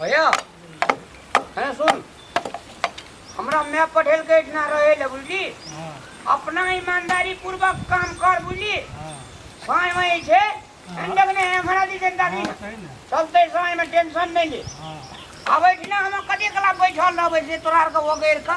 भैया है सुन हमरा मैं पढ़ेल के इतना रहे ले बुझली हाँ, अपना ईमानदारी पूर्वक काम कर बुझली हाँ, समय में छे अंडक ने हमरा दी जनता दी हाँ, सही ने चलते समय में टेंशन नहीं ले हाँ आबै छी ना हम कते कला बैठल रहबै से तोरा आर के वगैर के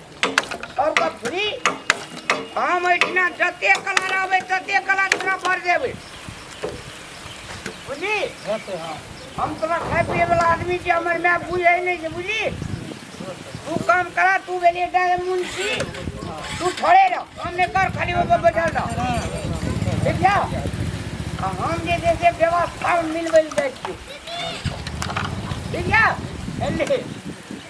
ओकर फ्री हम एहिठिना जते कलर आबै तते कलर तोरा भर देबै बुझली हम तोरा खाय पिए वाला आदमी छी हमर माय बुझै नहि छै बुझली तू काम करा तू भेलिए डायन मुंशी तू थोड़े रह काम नहि कर खाली ओहिपर बैठल रह ठीक छै आ हम जे छै से व्यवस्था मिलबै लए जाइ छियै ठीक छै एलियै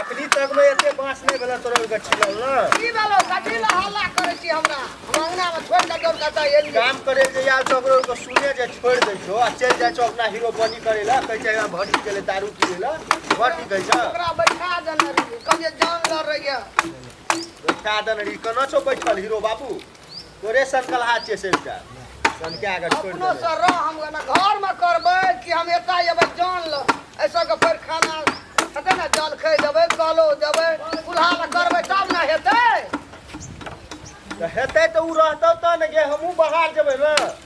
अखनी तक में एते बांस नहीं भेला तोरा के छिलल ना की भेलो कथी ला हल्ला करे छी हमरा हम अंगना में छोड़ के दौड़ के जाय एलिए काम करे जे यार तो ओकरो के सुने जे छोड़ दे छो आ चल जाय छो अपना हीरो बनी करे ला कह जाय भट्टी के ले दारू पी ला भट्टी कह जा ओकरा बैठा देना रही कहिए जान लड़ रही है बैठा दन री कना छो बैठल हीरो बाबू तोरे सनकलहा छियै से एकटा सनका कऽ छोड़ि अपनो देबै से रह हम ओना घर में करबै कि हम एता एबै जान ल एहि सबके भरि खाना हेतै ने जलखै देबै कलो देबै चूल्हा लए करबै तब ने हेतै तऽ हेतै तऽ ओ रहतौ तऽ ने गे हमहूँ बाहर जेबै ने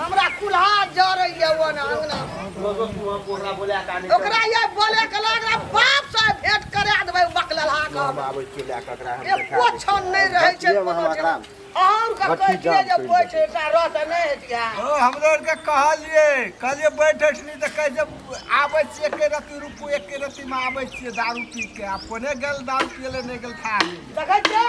हमरा कुल्हा जरैया ओ ना अंगना ओकरा ये बोले के लग रहा बाप से भेंट करा देबै बकलहा के हम। एको क्षण नहि रहै छै कोनो जगह। अहूँ के कहै छियै जे बैठ एकटा रह तऽ नहि हेतिया ओ हमरो आरके कहलियै कहलियै बैठ उठली तऽ कहै छै आबै छियै एके रत्ती रुपू एके रत्तीमे आबै छियै दारू पी के आ कोने गेल दारू पियले नहि गेल खा गेल देखै छियै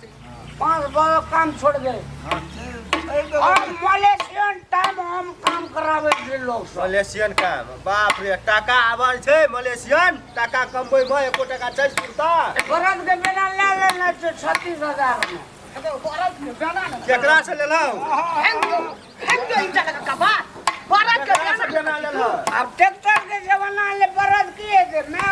पाँच बजे काम छोड़ दे और मलेशियन टाइम हम काम करावे छी लोग सब मलेशियन काम बाप रे टाका आबल छै मलेशियन टाका कमबै में एको टाका छै सुनता बरद के बेना ले लेना छै छत्तीस हजार में केकरा से लेलौ केकरा से बेना लेलौ अब ट्रैक्टर के जमाना ले बरद की है जे मैं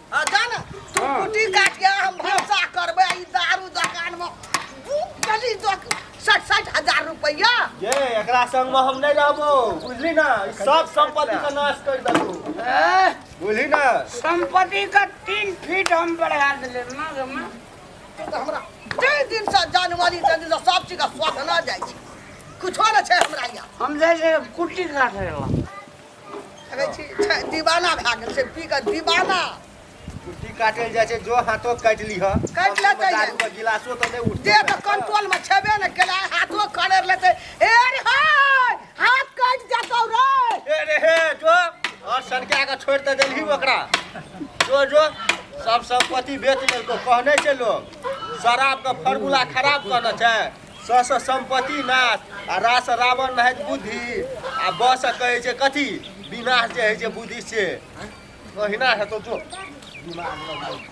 आ जा ने तू हाँ। कुटी काट के हम भरोसा करबे ई दारू दुकान में दू गली दो साठ साठ हजार रुपया ये एकरा संग में हम नहीं रहबो बुझली ना ई सब संपत्ति का नाश कर देबो ए, बुझली ना संपत्ति का तीन फीट हम बढ़ा दिले ना गे माँ तू तो हमरा जय दिन से जानवाली जय दिन से सब चीज का स्वाद ना जाइ छै कुछो न छै हमरा यहाँ हम जैसे कुट्टी काट रहे दीवाना भए गेल छै पी कऽ दीवाना कुर्सी काटल जाइ छै जो हाथो काटि लिह काटि लेतै दारू के गिलासो तऽ नहि उठतै देह के कंट्रोल में छेबे ने केला हाथो खड़ेर लेतै हे रे हे हाथ काट जातौ रे हे रे हे जो और सनका के छोड़ दे देलही ओकरा जो जो सब संपत्ति बेच लेलको कहने छै लोग शराब के फार्मूला खराब कहने छै स स सम्पत्ति नाश आ रा स रावण रहैत बुद्धि आ ब स कहै छै कथी विनाश जे होइ छै बुद्धि से ओहिना हेतौ जो दिमाग